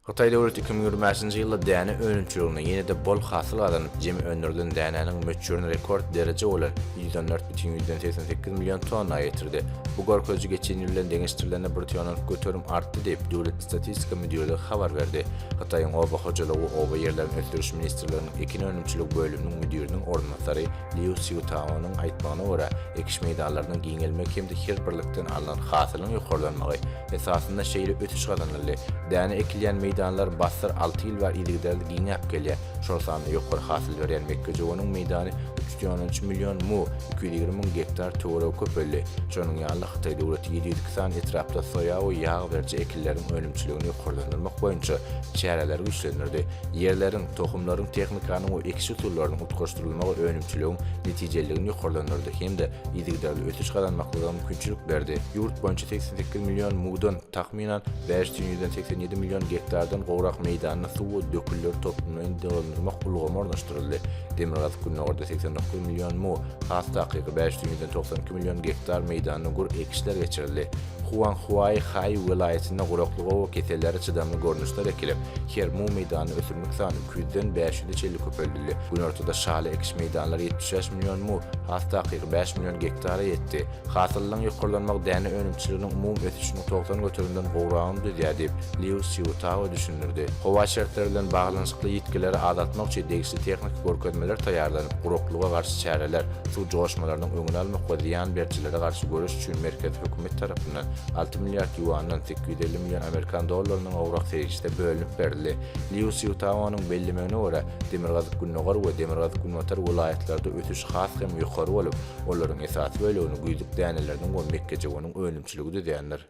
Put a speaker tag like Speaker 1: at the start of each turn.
Speaker 1: Hytaý döwleti iki müň ýigrimi bäşinji ýylda däne önümçiliginde ýene-de bol hasyl gazanyp, jemi öndürilen dänäniň möçberini rekord dereje bolan ýüz on dört bütin ýüzden segsen sekiz million tonna ýetirdi. Bu görkeziji geçen ýyl bilen deňeşdirilende bir tonnalyk göterim artdy diýip, Döwlet statistika müdirligi habar berdi. Hytaýyň Oba hojalygy we oba ýerlerini ösdüriş ministrliginiň ekin önümçiligi bölüminiň müdiriniň orunbasary Liu Szýutaonyň aýtmagyna görä, ekiş meýdanlarynyň giňelmegi hem-de her birlikden alnan hasylyň ýokarlanmagy, esasynda şeýle ösüş gazanyldy, däne ekilýän meýdanlar bassyr alty ýyl bäri yzygiderli giňäp gelýär, şol sanda ýokary hasyl berýän mekgejöweniň meýdany üç ýüz on üç million mu, iki ýüz ýigrimi müň gektar töweregi köpeldi, şonuň ýaly-da Hytaý döwleti ýedi ýüz iki sany etrapda soýa we ýag beriji ekinleriň önümçiligini ýokarlandyrmak boýunça çäreleri güýçlendirdi, ýerleriň, tohumlaryň, tehnikanyň we ekiş usullarynyň utgaşdyrylmagy önümçiligiň netijeliligini ýokarlandyrdy hem-de yzygiderli ösüş gazanmaklygyň mümkinçilik berdi. Ýurt boýunça segsen sekiz million mudan, takmynan, bäş sen ýüzden segsen ýedi million gektardan gowrak meýdanda suw we dökünleri toplumlaýyn dolandyrmak ulgamy ornaşdyryldy. Demirgazyk-Gündogarda segsen dokuz million mu, has takygy, bäş sen ýüzden togsan iki million gektar meýdanda gür ekişler geçirildi. Huanghuaýhaý welaýatynda guraklyga we kesellere çydamly görnüşler ekilip, her mu meýdanda ösümlik sany, Küýzeden bäş ýüze çenli köpeldildi. Günortada şaly ekiş meýdanlary ýetmiş bäş million mu, has takygy, bäş million gektara ýetdi. Hasyllylygyň ýokarlanmagy däne önümçiliginiň umumy ösüşiniň togsan göterimden gowragyny düzýär diýip, Liu Sziutao düşündirdi. Howa şertleri bilen baglanyşykly ýitgileri azaltmak üçin degişli tehniki görkezmeler taýýarlanyp, guraklyga garşy çäreler, suw joşmalarynyň öňüni almak we zyýan berijilere garşy göreş üçin merkezi hökümet tarapyndan alty milliard ýuandan, sekiz ýüz elli million amerikan dollarynyň gowrak serişde bölünip berildi. Liu Szýutaonyň bellemegine görä, demirgazyk-gündogar we demirgazyk-günbatar welaýatlarda ösüş has hem ýokary bolup, olaryň esasy bölegini güýzlük däneleriniň we mekgejöweniň önümçiligi düzýändir.